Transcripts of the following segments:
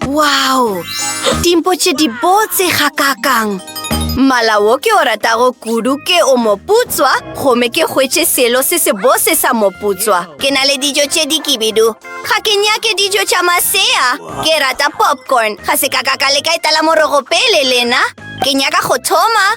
Wow! Dimpo tše di botse ga kakang! Mala wo ke o ratago kudu ke o moputswa, gome ke hwetše selo se se bose sa moputswa. Ke na le dijo tše di kibidu. Ga ke nyake dijo tša masea. Ke rata popcorn. Ga se ka ka ka leka etala morogo pele lena. Ke nyaka go thoma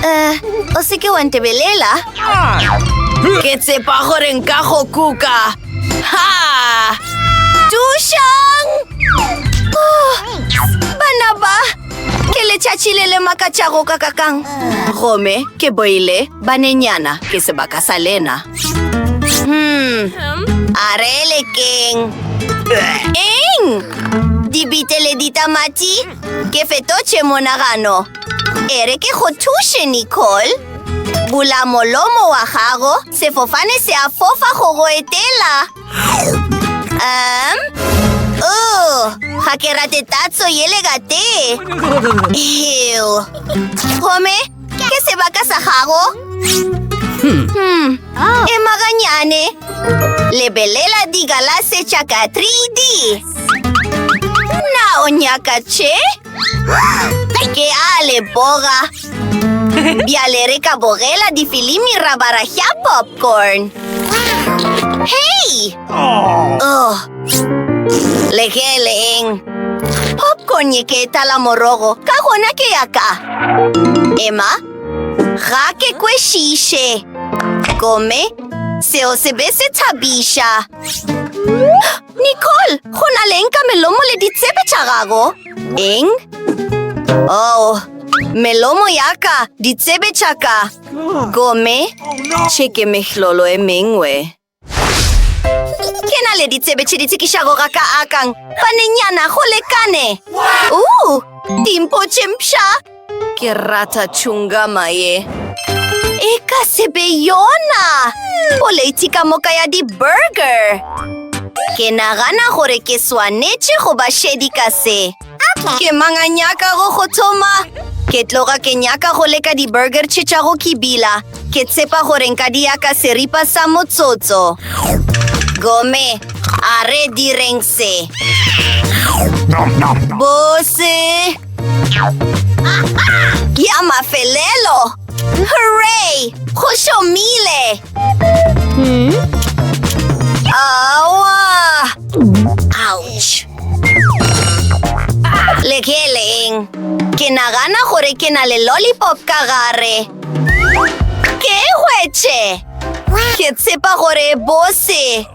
Eh, o se ke wa ntebelela ke tsepa gore nka go kuka ha tušang oh, bana ba ke letšatši le le makatšago ka kakang gome ke boile banenyana ke sebaka sa lena hmm a re lekeng eng dibite le ditamati Ke fetotše monagano. E re ke go thuše, Nicole. Bula molomo wa gago. Sefofane se a fofa go go etela. Um, oh, ga ke rate tatso ye le ka tee. Ew. Gomme, ke sebaka sa gago. Hmm. hmm. Oh. Emaganyane. Lebelela digalase tša ka 3D. Na o nyaka tše? Ke a le boga. Bjale re ka bogela difilimi ra bara ya popcorn. Hei! Oh. Le ge le eng? Popcorn ye ke e tala morogo, ka gona ke ya ka. Emma, ga ke kwešiše. Gomme, seo se be se thabiša. Nicole, go na leng ka melomo le ditsebe tša gago? Eng? Oh, melomo ya ka, ditsebe tša ka. Gome, tšheke mehlolo e mengwe. Ke na le ditsebe tše di tsekišago ga ka akang. Banenyana, go lekane. Uu, dimpo tše mpša. Ke rata chungama ye. E ka se be yona! Poleiti ka moka ya di-burger! Ke nagana gore ke swanetše go ba šedi ka se. Ke mang a nyakago go thoma? Ke tloga ke nyaka go leka di-burger tše tša go kibila. Ke tsepa gore nka di ya ka seripa sa motsotso. Gome, a re direng se. Bose! ya mafelelo hooray go šomile awa ouch le ke leng ke nagana gore ke na le lollipop ka gare ke hwetše ke tshepa gore bose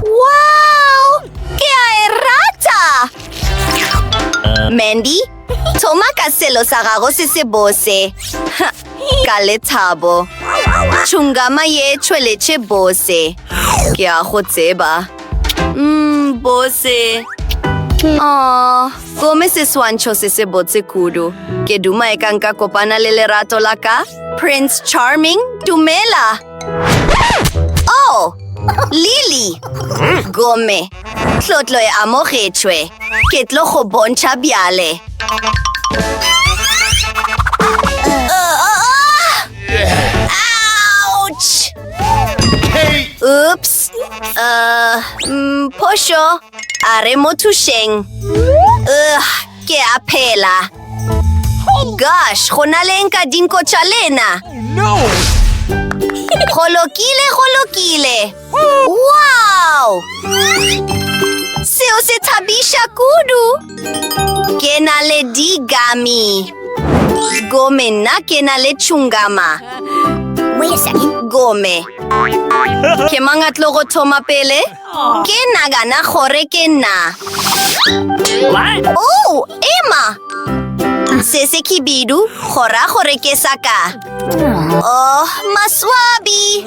Wow! Ke a e rata! Mandy, thoma ka selo sa gago se se bose. ka lethabo. Tšhungama ye tšhweletše bose. Ke a go tseba. Mm, bose. Oh, gome se swantšho se se botse kudu. Ke duma e ka nka kopana le lerato la ka? Prince Charming, dumela! Oh! Lily! Gomme, tlotlo e amogetšwe. Ke tlo go bontšha bjale. Ouch! Oops! Uh, mm, phošo. A re mo thušeng. Ugh, ke a phela. Gosh, go na leng ka dinko tša lena? Go lokile, go lokile. Wow! Seo se thabiša kudu. Ke na le digami. Gome nna ke na le tšhungama. Gome. Ke mang a tlo go thoma pele? Ke nagana gore ke nna. Oh, ema! Se se khibidu, go ra gore ke sa ka. Oh, maswabi!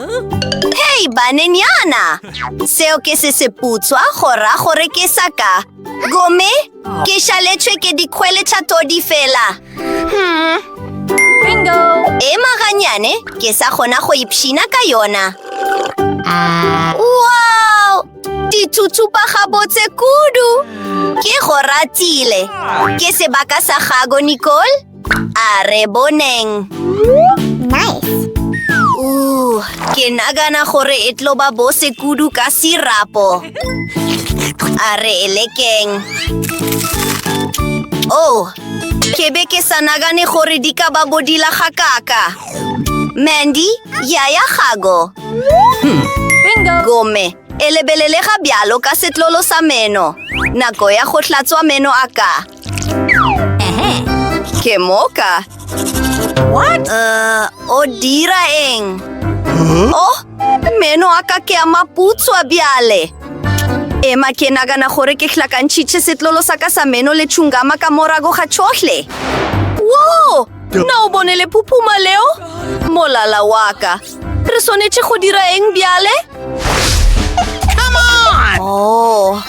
Hei, banenyana! Seo ke se seputswa, go ra gore ke sa ka. Gomme Ke šaletšwe ke dikgwele tša todi fela. Hmm. Bingo! Ema ganyane, ke sa kgona go ipshina ka yona. Wow! Ditsutsupa gabotse kudu! Ke go ratile. Ke sebaka sa gago, Nicole? A re boneng. Nice. Uh, ke nagana gore e tlo ba bose kudu ka sirapo. A re e lekeng. Oh, ke be ke sa nagane gore di ka ba bodila ga kaka. Mandy, yaya gago. Hmm. Bingo. Gome, e lebelelega bjalo ka setlolo sa meno. Nako ya go hlatswa meno a ka. Ke moka. What? Uh, o dira eng? Huh? Oh, meno a ka ke a maputswa bjale. Ema ke nagana gore ke hlakantšhitše setlolo sa ka sa meno le tšhungama ka morago ga tšhohle. Wo! Na o bone le phuphuma leo? Molala wa ka. Re swanetše go dira eng bjale? Oh.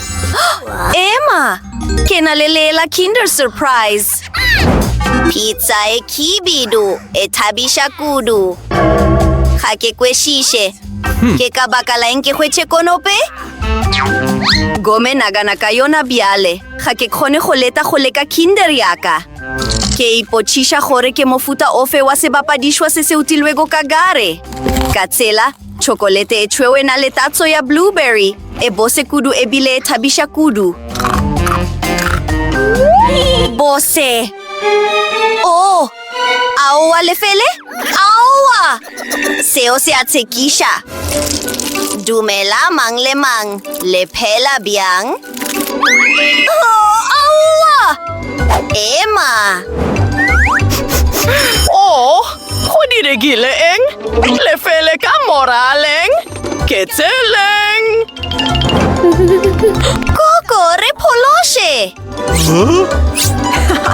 Emma, ke na le lela Kinder Surprise. Pizza e khibidu, e thabiša kudu. Ga ke kwešiše. Hmm. Ke ka baka la eng ke hwetše konope? Gome nagana ka yona bjale. Ga ke kgone go leta go leka Kinder yaka. Ke ipotšiša gore ke mofuta ofe wa sebapadišwa se se utilwego ka gare. Ka tsela, tšhokolete e tšhweu e na le tatso ya blueberry, e bose kudu e bile e thabiša kudu. Bose! Oh! Aowa, lefele? Aowa! Seo se a tshekiša. Dumela mang le mang, le phela bjang? Ema! Oh, go diregile eng? Lefele ka moraleng? Ke tseleng! Koko, re phološe!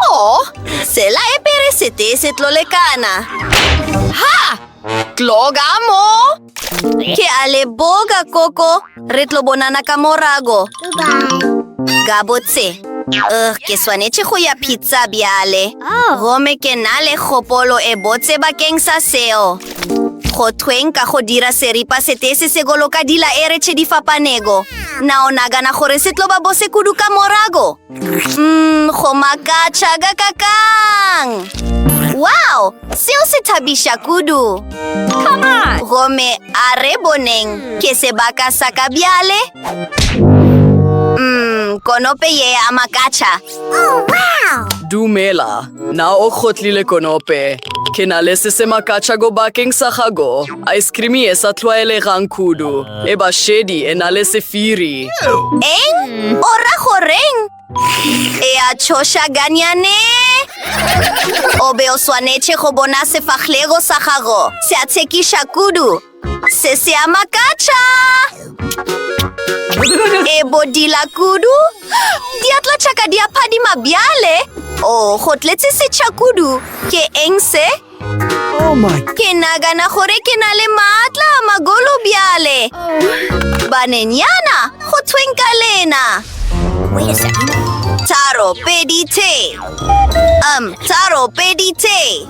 Oh, sela e pere sete se tlolekana. Ha! Tloga mo! Ke a leboga, Koko. Re tlo bonana ka morago. Gabotse. Uh, ke swanetše go ya pizza bjale. Oh. Gome ke na le kgopolo e botse bakeng sa seo. Go thweng ka go dira seripa sete se se goloka dila e re tšhe di fapanego. Na o nagana gore se tlo ba bose kudu ka morago? Mm, go makatšha ka kakang! Wow! Seo se thabiša kudu! Gomme a re boneng ke sebaka sa ka bjale? Mm, konope ye ya makatšha. Oh, wow! Dumela. Na o kgotlile konope? Ke na le se se makatša go bakeng sa gago. Ice cream e sa tlwaelegang kudu. E ba šedi e na le sefiri. Eng? O ra goreng? E a tšhoša ganyane? O be o swanetše go bona sefahlego sa gago. Se a tshekiša kudu. Se se a makatša! E bodila kudu! Diatla tšaka di a phadima bjale! O, go tletse setšha kudu! Ke eng se? Oh ke nagana gore ke na le maatla a magolo bjale! Banenyana, go thweng ka lena! Taro pedi te! Um, taro pedi te!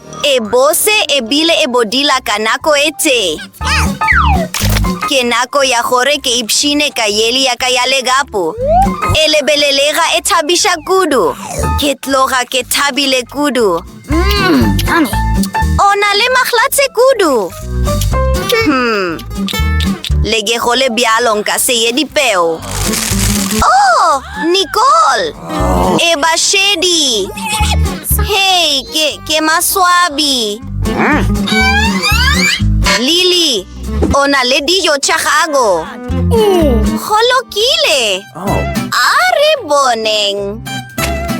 E bose e bile e bodila ka nako e tee. Ke nako ya gore ke ipshine ka yeli ya ka ya legapu. E lebelelega e thabiša kudu. Ke tloga ke thabile kudu. O na le mahlatse kudu. Hmm. Le ke go le bjalo nka se ye dipeo. Oh, Nicole! e ba šedi hei ke, ke maswabi lily o na le dijo tša gago go lokile a re boneng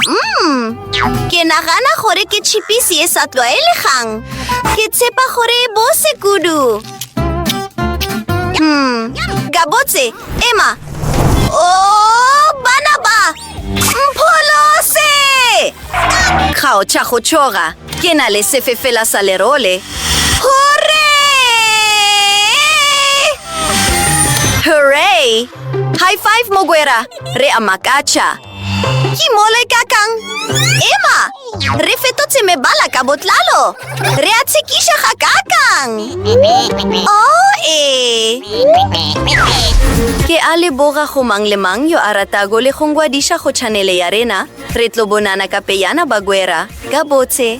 mm, ke nagana gore ke chipisi e sa tlwaelegang ke tshepa gore e bose kudu Hmm, gabotse, ema. O, bana ba! Mpholose! Kgaotša go tšhoga, ke na le sefefela sa lerole. Hore! Hooray! High five, Mogwera! Re a makatša! Ke mole ka kang? Ema! Re fetotse mebala ka botlalo! Re a tshekiša ga ka kang! O oh, ee! Ke a le boga go mang le mang yo a ratago le go ngwadiša go chanele ya rena. Re tlo bonana ka peyana bagwera. Ka botse!